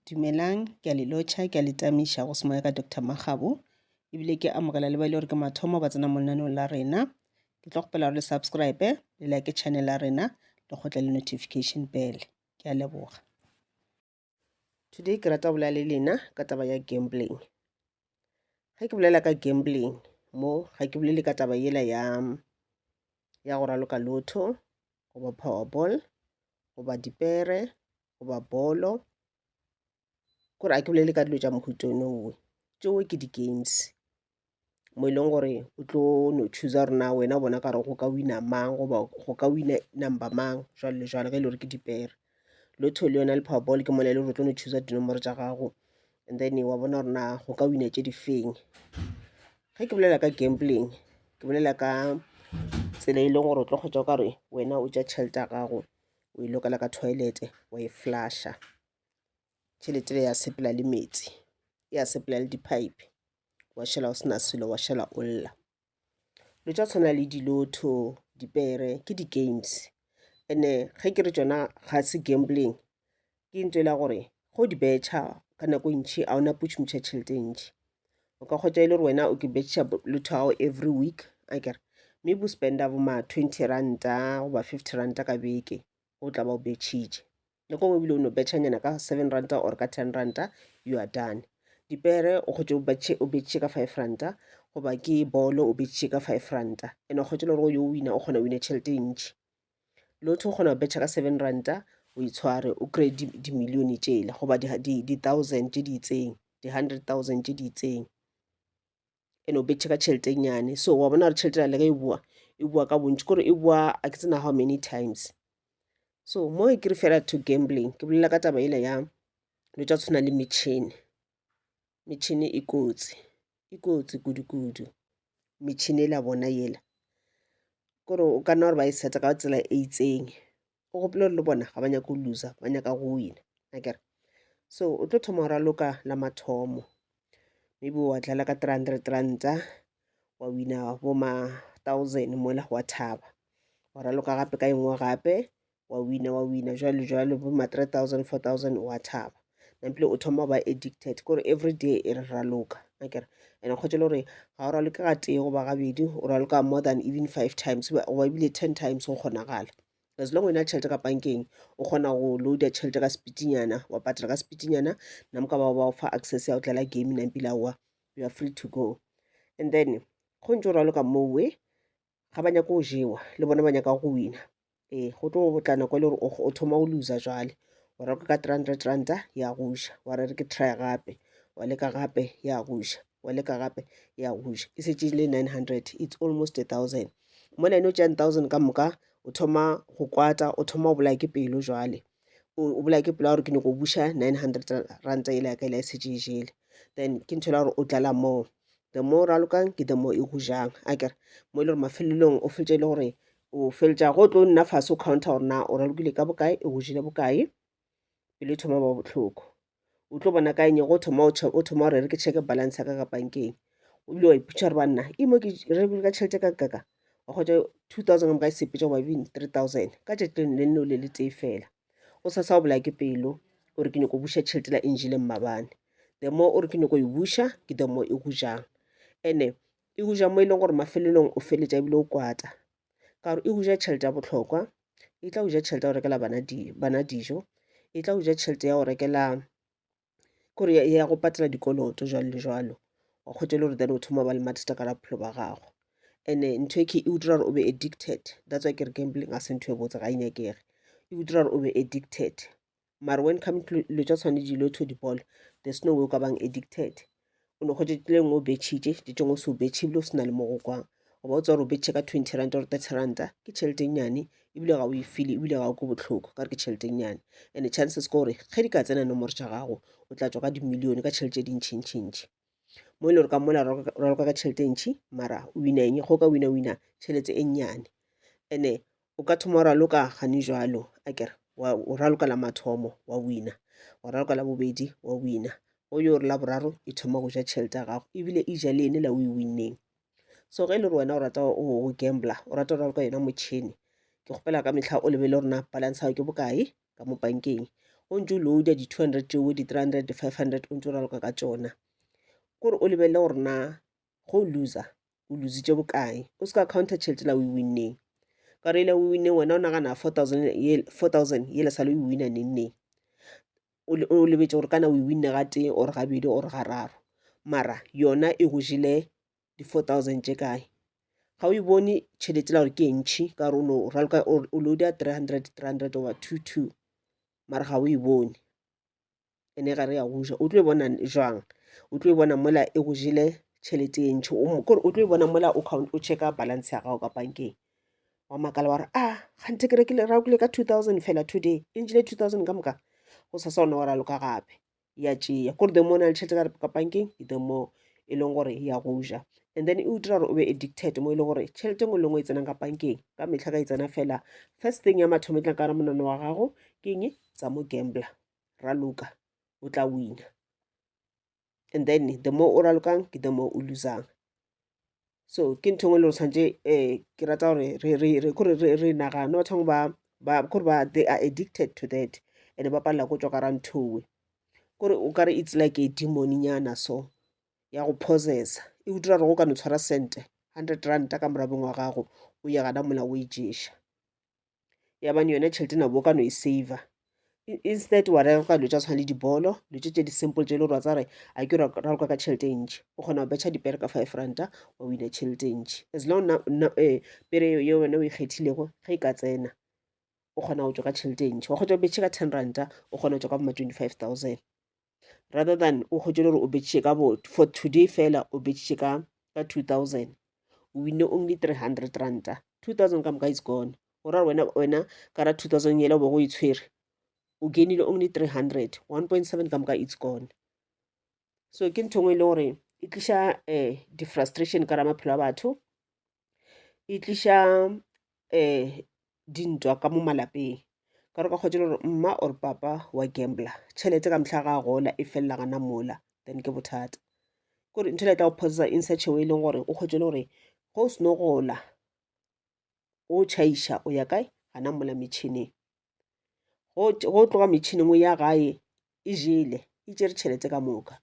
Dumelang, ke a le lotšha, ke a le tamiša go semoya ka Doctor Makgabo, ebile ke amogela le ba e le gore ke mathomo ba tsena mo lenaneong la rena. Ke tlo kgopela gore le subscribe, le like channel ya rena, le kgotle le notification bell. Ke a leboga. Today ke rata go bolela le lena ka taba ya gambling. Ge ke bolela ka gambling mo, ga ke bolele ka taba yela ya, ya go raloka lotho, goba powerball, goba dipere, goba bolo kore a ke bolele ka dilo tša mohuta o nowe tšeo ke di-games mo e leng gore o tlo no chooser gore na wena o bona kare go ka wina mang goba go ka wina number mang jwalo le jwalo ge e le gore ke dipere lotho le yona le powerball ke mona e le gore o tlo no chooser dinomoro tša gago and then wa bona gore na go ka wina tše di feng ge ke bolela ka gambling ke bolela ka tsela e leng gore o tlo kgwetsa o ka re wena o ja tšhelete ya gago o e lokela ka toilete wa e flasha tšhelete le ya sepela le metsi ya sepela le di-pipe wa šala o sena selo wa šala o lla lo tša tshwana le dilotho dipere ke di-games and-e ge ke re tšona ga se gambling ke into e la gore ge o di betšha ka nako e ntšhi a ona putšhumutšha tšhelete e ntšhi o ka kgotša e le gore wena o ke betšha lotho ao every week a kere mme bo spenda bo ma twenty ranta goba fifty ranta ka beke o tla ba o betšhitše nako ngwe ebile o no betšhanyana ka seven ranta or ka ten ranta you are done dipere o kgotše o betšhe ka five ranta goba ke bolo o betšhe ka five ranta and o kgotše le gore o yo wina o kgona wine tšhelete e ntšhi lotho o kgona go betšha ka seven ranta o itshware o kry dimillione tšele goba di-thousand tše di itseng di-hundred thousand tše di itseng and o betšhe ka tšhelete nyane so wa bona gore tšhelete na leka e boa e boa ka bontši kore e boa a ke tsena how many times so mo e kere fela to gambling ke bolela ka taba ela ya lo tša tshwana le metšhini metšhini e kotsi e kotsi kudukudu metšhini e la bona yela kore o ka nna gore ba e set-a ka tsela e itseng o gopole gore le bona ga ba nyake go loser ba nyaka go wina akere so o tlo thoma go raloka la mathomo maybe wa dlala ka three hundred ranta wa wina bo ma thousand mola wa thaba wa raloka gape ka engwe gape wa wina wa wina jwalo jwalo bo ma 3000 4000 wa thaba nampile o thoma ba addicted kore every day e re raloka akere and kgotse le gore ga o raloke ga tee goba gabedi o raloka more than even five times goba ebile ten times go kgonagala as long wena tšhelete ka pankeng o kgona go loada tšhelete ka sepitinyana wa patela ka sepitinyana na moka bao ba o fa access ya go tlela game nampile aowa you are free to go and then go ntse o raloka mowe ga ba nyake go jewa le bona ba nyaka go wina ee go tlo go tla nako e le gore o thoma o loser jwale o reka ka three hundred ranta ya goja wa re re ke try gape wa leka gape ya goja wa leka gape ya goja e setse le nine hundred it's almost a thousand mona ene o tšang thousand ka moka o thoma go kwata o thoma o bolaya ke pelo jwale o bolaya ke pela gore ke nyoko buša nine hundred ranta ele yaka ele a e setse e jele then ke ntho ela gore o tlala moo the more o ralokang ke the more e go jang a kere mo e le gore mafelelong o fetse e le gore o feletša go tlo nna fase o counter gore na o ralokile ka bokae e go jile bokae pele e thoma ba botlhoko o tlo bona ka eng go thoma o thoma gore re ke check balance ya ka ka bankeng o bile wa iputša gore banna e mo ke re ka tšhelete ka kaka wa kgotsa two thousand ka moka e sepetša wa bini three thousand ka tšatši le le nne le le tee fela o sa sa o bolaya ke pelo gore ke nyako buša tšhelete la engile mmabane the more o re ke nyako e buša ke the more e go jang ene e go ja mo e leng gore mafelelong o feletša ebile o kwata ka gore e go ja tšhelete ya botlhokwa e tla go ja tšhelete ya go rekela bana di bana dijo e tla go ja tšhelete ya go rekela kore ya go patela dikoloto jwalo le jwalo wa kgwetša e le gore then o thoma ba le mathata ka bophelo ba gago and-e ntho e key e go dira gore o be addicted that's why ke re gambling ga se ntho e botse ga e nyakege e go dira gore o be addicted mare when come to dilo tša tshwane dilo to di ball there's no way o ka bang addicted o ne kgotše tleng o betšhitše tše tšengwe o se o betšhe ebile o se na le mo go kwang goba o tsa gore o betšhe ka twenty ranta or thirty ranta ke tšhelete nnyane ebile ga o e fele ebile ga o ke botlhoko ka gore ke tšhelete nnyane and chances ke gore ge di ka tsena nomoro tša gago o tla tswa ka dimillione ka tšhelete e dintšhintšhintšhi mo e le gore ka mola raloka ka tšhelete e ntšhi mara wina eng go ka wina wina tšhelete e nnyane and-e o ka thoma wa raloka gane jalo a kere o raloka la mathomo wa wina wa raloka la bobedi wa wina o yo re la boraro e thoma go ja tšhelete ya gago ebile e ja le ene la o e winneng so ge e le gore wena o rata o gambla o rata o raloka yona motšhini ke kgopela ka mehla o lebele gorena balance ao ke bokae ka mo bankeng o ntse o loada di-two hundred tšeo di-three hundred di-five hundred o ntse o raloka ka tsona kore o lebelele gore na go o loser o lositše bokae o se ka counter tšhelete la o e winneng ka gore ele o winne wena o nagana four thousand four thousand yele sale o e winna nengneng o lebetse gore kana o e winne ga tee or gabedi or ga raro mara yona e go jile di-four thousand tše kae ga o e bone tšhelete la gore ke entšhi ka gore o no raloka o loada three hundred three hundred over two two mara ga o e bone ene ga re ya go ja o tlo e bona jwang o tlo e bona mola e go jele tšhelete e ntšhi kore o tlo e bona mola o checka balance ya gago ka bankeng wa makala wa re a ah, gante ke rekile rakile ka two thousand fela today e ntšhile two thousand ka moka go sa sa ona wa raloka gape ya tšeya kore the more na le tšhelete ka bankeng the more e leng gore ya go ja and then e o dira gore o be addicted mo e le gore tšhelete e nngwe le nngwe e tsenang ka bankeng ka metlha ka e tsena fela first thing ya mathomo e tlang ka re monana wa gago ke eng tsa mo gambler raloka o tla wina and then the more o ralokang ke the more o losang so ke ntho engwe le gore tshwanetse um ke rata gore kore re nagane batho bangwe ba kore ba they are addicted to that and ba palela ko tswa ka ra nthowe kore o kare it's like a demoninyana so ya go possessa e go dira gore go ka no tshwara cente hundred ranta ka morabeng wa gago o ya gana mola o e ješa ya bane yone tšhelete nabo o ka no e saver instead wa reka ka dilo tša tshwana le dibolo dilo tše tše di-simple tše le gore wa tsare a ke raloka ka tšhelete e ntši o kgona go betšha dipere ka five ranta wa wina tšhelete e ntši as long eh, pere eo ye wena o ikgethilego e ge e ka tsena o kgona go tswa ka tšhelete e ntši wa kgotsa o betšhe ka ten ranta o kgona go tswa ka boma twenty five thousand rather than o kgotše gore o betšiše ka bo for today fela o betšiše ka ka 2000 o winne only 300 ranta 2000 ka moka is gone go ra wena wena ka ra 2000 yela o be go e tshwere o gainile only 300 1.7 ka moka it's gone so ke ntho ngwe e le gore e tliša um eh, defrustration ka ra maphelo a batho e tliša um dintwa ka mo malapeng ka gore o ka kgotsa e le gore mma or papa wa gambler tšhelete ka mehla ga a gola e felela gana mola then ke bothata kore ntho ele e tla go possessa in such a way e leng gore o kgotsa e le gore ge o seno gola o chaiša o ya kae gana mola metšhineng. go tloga metšhineng ya gae e jele e tšere tšhelete ka moka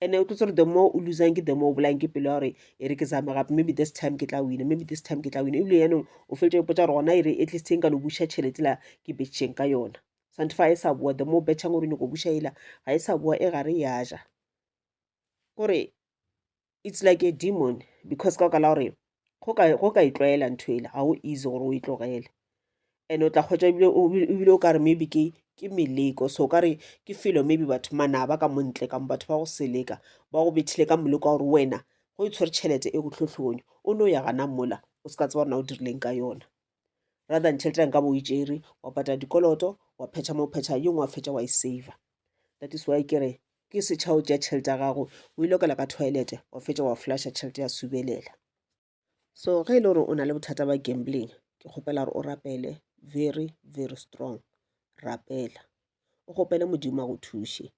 and-e o tlotse gore the more o losang ke the more o bolayang ke pelo ya gore e re ke zame gape maybe this time ke tla wina maybe this time ke tla wina ebile yanong o fetse ipotsa gore gona e re at least e nka no buša tšhelete la ke betšheng ka yona sante fa e sa boa the more betšhang gore nyoko buša ela ga e sa boa e gare ya ja kore it's like a demon because ka baka la gore go ka go ka itlwaela ntho ele ga o easy gore o e tlogele and o tla kgwetsa ebile o ebile o ka re maybe ke ke meleko so o ka re ke felo maybe batho manaba ka montle kamo batho ba go seleka ba go bethile ka moleko wa gore wena go e tshwere tšhelete e go tlhotlhonyo o ne o ya gana mola o se ka tseba gore na o dirileng ka yona rather than tšhelete ya nka bo itšere wa patala dikoloto wa phetha mo phetha yo ngwe fetša wa e save that is why kere ke setšha o tšea tšhelete ya gago o e lokela ka toilet wa fetša wa flasha tšhelete ya subelela so ge e le gore o na le bothata ba gambling ke kgopela gore o rapele very very strong rapela o kgopele modimo a go thuše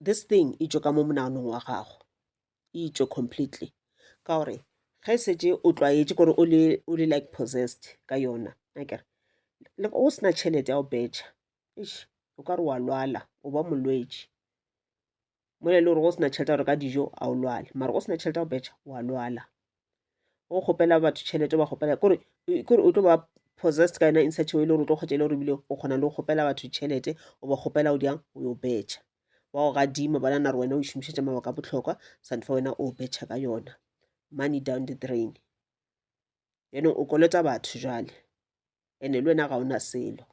this thing e tšo ka mo monaganong wa gago e itšwe completely ka gore ge e šetše o tlwaetše gore o le o le like possessed ka yona akere le o sena tšhelete ya go betšha eish o ka re wa lwala o ba molwetši mola e le gore go sena tšhelete ya go reka dijo a o lwale mara go sena tšhelete ya go betšha wa lwala o kgopela batho tšhelete ba kgopela kore kore o tlo ba possessed ka yona in such a way le gore o tlo kgotsa e le gore ebile o kgona le go kgopela batho tšhelete o ba kgopela o diang o yo betšha wa go gadima ba nana gore wena o išomišetša mabaka a botlhokwa santfa wena o betšha ka yona money down the drain yone o kolota batho jale ene le wena ga ona selo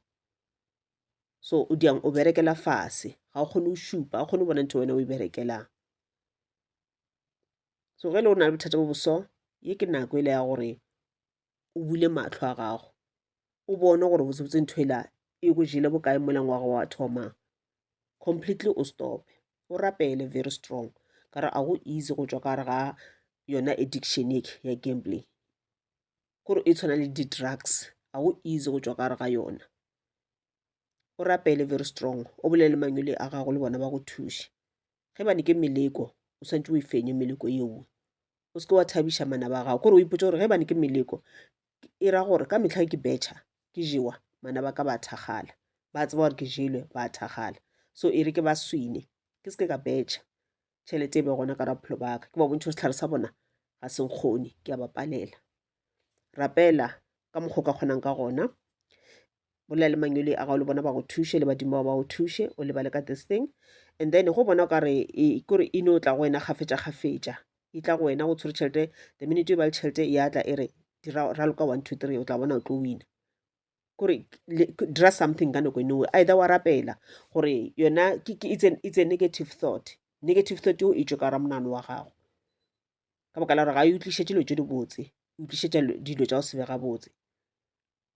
so o diang o berekela fase ga o kgone o šupa ga o kgone o bona ntho wena o e berekelang so ge le o na le bothata bo boso ye ke nako e le ya gore o bule matlho a gago o bone gore botsebotse ntho ela e go jele bokae molang wa go wa thoma completely o stope o rapele very strong ka re a go easy go tswa ka re ga yona addiction e ya gambling kore e tshwana le di-drugs a go easy go tswa ka re ga yona o rapele very strong o bolele le mangwele a gago le bona ba go thuše ge bane ke meleko o swantse o e fenye meleko yeo o seke wa thabiša mana ba gago kore o ipotse gore ge bane ke meleko e ra gore ka metlha ke betšha ke jewa mana ba ka ba thakgala ba tseba gore ke jelwe ba thakgala so e re ke ba swine ke seke ka betšha tšhelete e be gona ka raphelo ba ka ke ba bontšhe setlhare sa bona ga se nkgone ke a ba palela rapela ka mokgwa o ka kgonang ka gona bolela le manyoli a gago le bona ba go thuše le badimo ba ba go thuše o lebale ka this thing and then go bona o ka re e- kore e no tla go wena kgafetša kgafetša e tla go wena go tshwere tšhelete the minute e ba le tšhelete e atla e re dira raloka one two three o tla bona o tlo wina kore le- k- dira something ka nako enowe either wa rapela gore yona ke- ke- it's a- it's a negative thought negative thought eo e tšwe ka ra monano wa gago ka baka la gore ga e utlišetše dilo tše dibotse e utlišetša lo- dilo tša go se be gabotse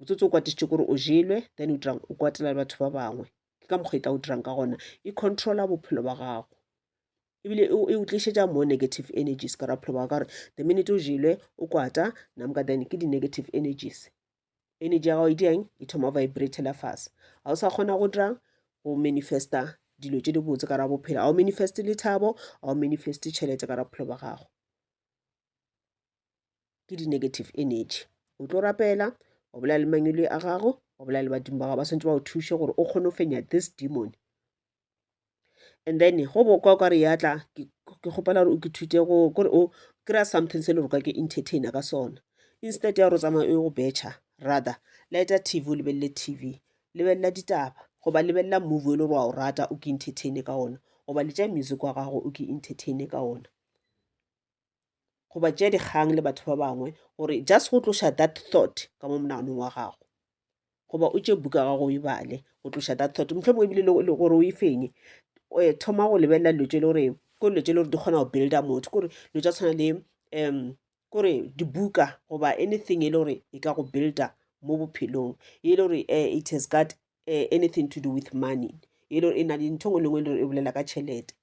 motsotso o kwatišitše kore o jelwe then o dirang o kwatela le batho ba bangwe ke ka mokgwa e tla o dirang ka gona e controla bophelo ba gago ebile e o tlišetša more negative energies ka bophelo ba ka gore the minute o jelwe o kwata namka then ke di-negative energies energy ya gago e diang e thoma vibratela fase ga o sa kgona go dira go manifesta dilo tse di botse ka ra bophelo ga o manifeste lethabo ga o manifeste tšhelete ka ra bophelo ba gago ke di-negative energy o tlo rapela o bolela le mangwele a gago o bolela le badimo ba gago ba swantse ba go thuše gore o kgone go fenya this demon and then go bokwa o ka re yatla ke kgopela gore o ke thute go kore o kry-a something se le gore ka ke entertainer ka sona instead ya gore o tsamaya o go betšha rather leta tv o lebelele tv lebelela ditaba goba lebelela movie e le gore wa o rata o ke entertaine ka ona goba letša music wa gago o ke entertaine ka ona goba tšea dikgang le batho ba bangwe gore just go tloša that thought ka mo monaganong wa gago goba o tše buka gago o e bale go tloša that thought motlho mongwe ebile e gore o e fenye um thoma go lebelela dilo tše le gore ko dilo tše le gore di kgona go builda motho kore dilo tša tshwana le um kore dibuka goba anything e le gore e ka go builda mo bophelong e le gore um it has got um anything to do with money e le gore e na le ntho e nngwe le nngwe e le gore e bolela ka tšhelete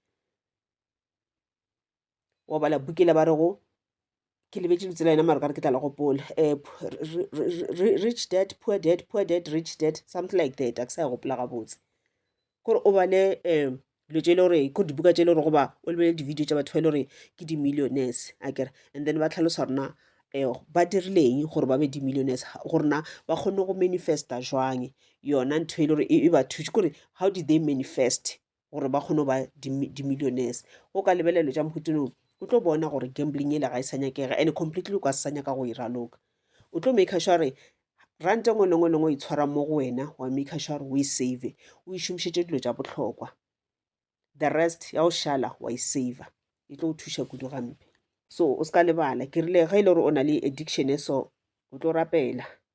wa bala bukele ba re go ke lebetse lebitso la yena maro kare ke tla le gopola um rich dad poor dad poor dad rich dad something like that a ke sa ya gopola gabotse kore o bale um dilo tse e le gore ko dibuka tse e le gore goba o lebelele di-video tsa batho ba e le gore ke di-millionaires a kere and then ba tlhalosa rona um ba dirileng gore ba be di-millionaires gore na ba kgone go manifesta jwang yona ntho e le gore e ba thuše kore how did they manifest gore ba kgone go ba dimillionaires o ka lebelelo tša mokhutinong o tlo bona gore gambling ele ga e sa nyakega and completely o ka se sa nyaka go e raloka o tlo make sure re rante ngwe lengwe lengwe o itshwara mo go wena wa make sure gore o e save o e šomišetše dilo tša bohlokwa the rest ya o šala wa e saver e tlo o thuša kudu gampe so o se ka lebala ke rile ge e le gore o na le addiction e so o tlo rapela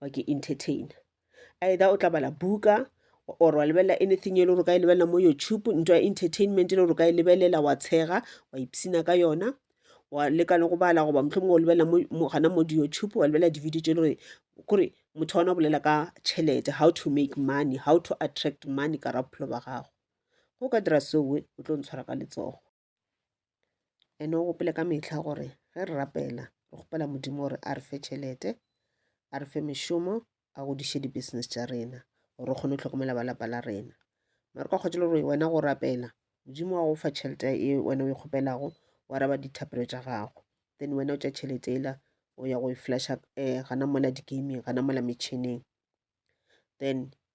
wa ke entertainer either o tla bala buka or wa lebelela anything e le gore o ka e lebelela mo youtube ntwa ya entertainment e le gore o ka e lebelela wa tshega wa ipsina ka yona wa leka le go bala goba motlho mongwe o lebelela gana mo di-youtube wa lebelela di-video tse e le gore kore motho wa ona o bolela ka tšhelete how to make money how to attract money ka ra bophelo ba gago go ka dira seoe o tlo ntshwara ka letsogo ene o gopele ka mehla gore ge re rapela re kgopela modimo gore a re fe tšhelete a re fe mešomo a godiše di-business tša rena gore re kgone go tlhokomela ba lapa la rena mare ka kgotšelo gore wena go rapela modimo wa go fa tšhelete e wena o e kgopelago wa raba dithapelo tša gago then wena o tša tšhelete ela o ya go e flasha um gana mola di-gaming gana mola metšhineng then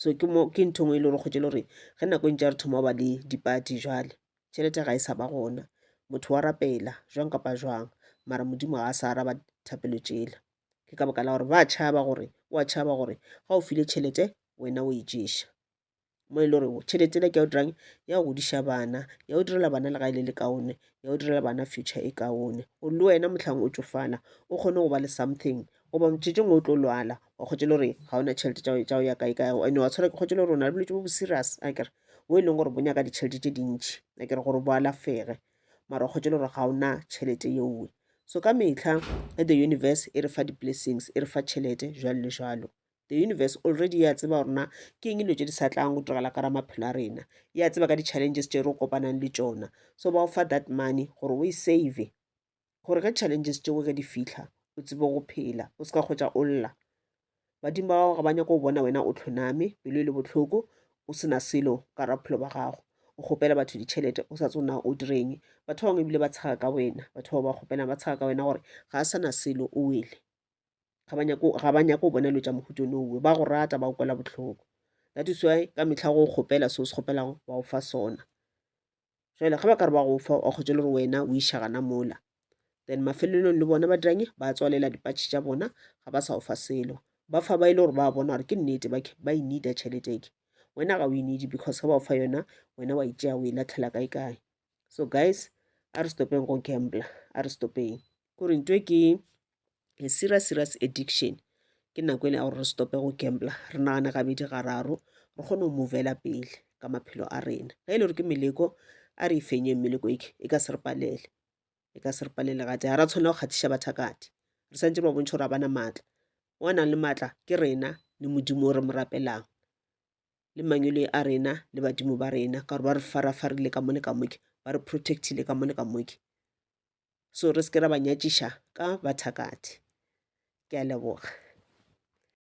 so ke mo ke ntho engwe e le gore kgotse e le gore ge nako e ntse ya re thoma ba le dipati jale tšhelete ga e sa ba gona motho wa rapela jwang kapa jwang mara modimo ga a sa araba thapelo tšela ke ka baka la gore ba tšhaba gore wa tšhaba gore ga o file tšhelete wena o e ješa mo e le gore tšhelete le ke ya o dirang ya go godiša bana ya o direla bana le ga e le le kaone ya o direla bana future e kaone gore le wena motlhang o tsofala o kgone go ba le something goba motšhetšong o tlo lwala o kgotse le gore ga ona tšhelete tša go ya kae kae ande wa tshwara ke kgotse le gore o na le bolwetse bo bo serious a kere bo e leng gore bo nyaka ditšhelete tše dintšhi a kere gore bo alafege mara o kgotse le gore ga ona tšhelete yeowe so ka metlha e the universe e re fa di-blessings e re fa tšhelete jalo le jalo the universe already ya tseba gorena ke eng dilo tse di sa tlang go diragala ka ra maphelo a rena ya tseba ka di-challenges tse re kopanang le tsona so ba o fa that money gore o e save gore ge challenges tšeo ge di fihla o tsebe go phela o se ka kgwetša o lla badimo ba gago ga ba nyako go bona wena o tlhoname pelo e le bohloko o sena selo ka ra bophelo ba gago o kgopela batho ditšhelete o sa tsona o direng batho ba bangwe ebile ba tshega ka wena batho ba ba kgopela ba tshega ka wena gore ga a sana selo o wele ga ba nyako ga ba nyako bona lo tša mohuto no uwe ba go rata ba go kwela botlhoko that is why ka mehla go kgopela so se kgopelago ba o fa sona jale ga ba ka re ba go fa wa kgotsa le gore wena o iša gana mola then mafelelong le bona ba diranye ba tswalela dipatšhe tša bona ga ba sa o fa selo ba fa ba e le gore ba bona gore ke nnete bake ba e needa tšhelete ke wena ga o e needi because ga ba o fa yona wena wa itšea o e latlhela kae kae so guys a re stopeng go gambler a re stopeng kore ntwe ke a serious serious addiction ke nako e le ya gore re stope go gambla re nagane gabedi gararo re kgone go movela pele ka maphelo a rena ge e le gore ke meleko a re ifenye meleko eke e ka se re palele e ka se re palele gate ga ra tshwanela go kgathiša bathakati re santse re ba bontšha gore ga bana maatla o nang le maatla ke rena le modimo o re mo rapelang le mangwele a rena le badimo ba rena ka gore ba re farafarile ka mo le ka moke ba re protectile ka mo le ka moke so re se ke ra ba nyatšiša ka ba thakgathe ke a leboga